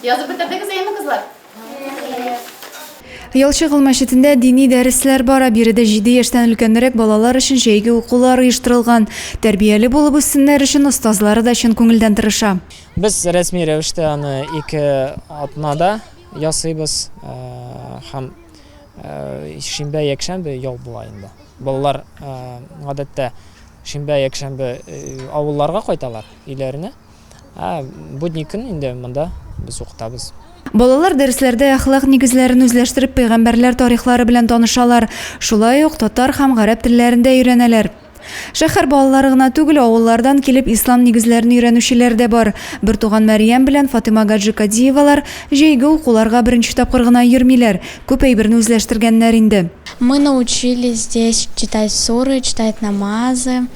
Язып бетердегез әйеме, кызлар? Ялчыгыл мәчетендә дини дәресләр бара. Биредә җиде яшьтән өлкәнрәк балалар өчен җәйге укулар оештырылган. Тәрбияле булып үссеннәр өчен остазлары да чын күңелдән тырыша. Без рәсми рәвештә аны ике атнада ясыйбыз э, һәм э, шимбә якшәмбе ял була инде. Балалар э, гадәттә шимбә якшәмбе авылларга кайталар, өйләренә. Ә будни көн инде монда без укытабыз. Балалар дәресләрдә әхлак нигезләрен үзләштереп пәйгамбәрләр тарихлары белән танышалар, шулай ук татар һәм гарәп телләрен дә өйрәнәләр. Шәһәр балалары гына түгел, авыллардан килеп ислам нигезләрен өйрәнүчеләр дә бар. Бертуган Мәрьям белән Фатыйма Гаджикадиевалар җәйге укуларга беренче тапкыр гына йөрмиләр, күп әйберне үзләштергәннәр инде. Мы научились здесь читать суры, читать намазы.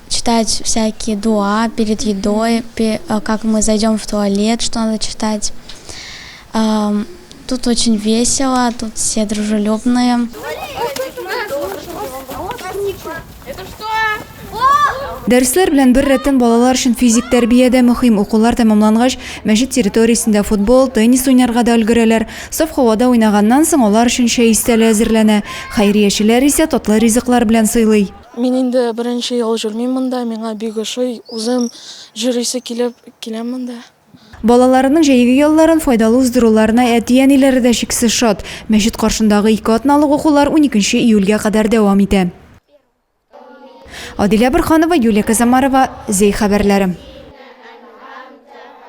читать всякие дуа перед едой, э, как мы зайдем в туалет, что надо читать. Тут очень весело, тут все дружелюбные. Дәресләр белән бер рәттән балалар өчен физик тәрбия дә мөһим. Укулар тәмамлангач, мәчет территориясендә футбол, теннис уйнарга да өлгерәләр. Саф һавада уйнаганнан соң алар өчен чәй өстәле әзерләнә. Хәйриячеләр исә татлы ризыклар белән сыйлый. Мин инде беренче ел җөрмим монда, миңа бик ошый, үзем җөрисе килеп киләм монда. Балаларының җәйге ялларын файдалы уздыруларына әти-әниләре дә чиксез шат. Мәчет каршындагы ике атналык укулар уникенче июльгә кадәр дәвам итә. Адилә Борһанова, Юлия Казамарова, Зәй хәбәрләре.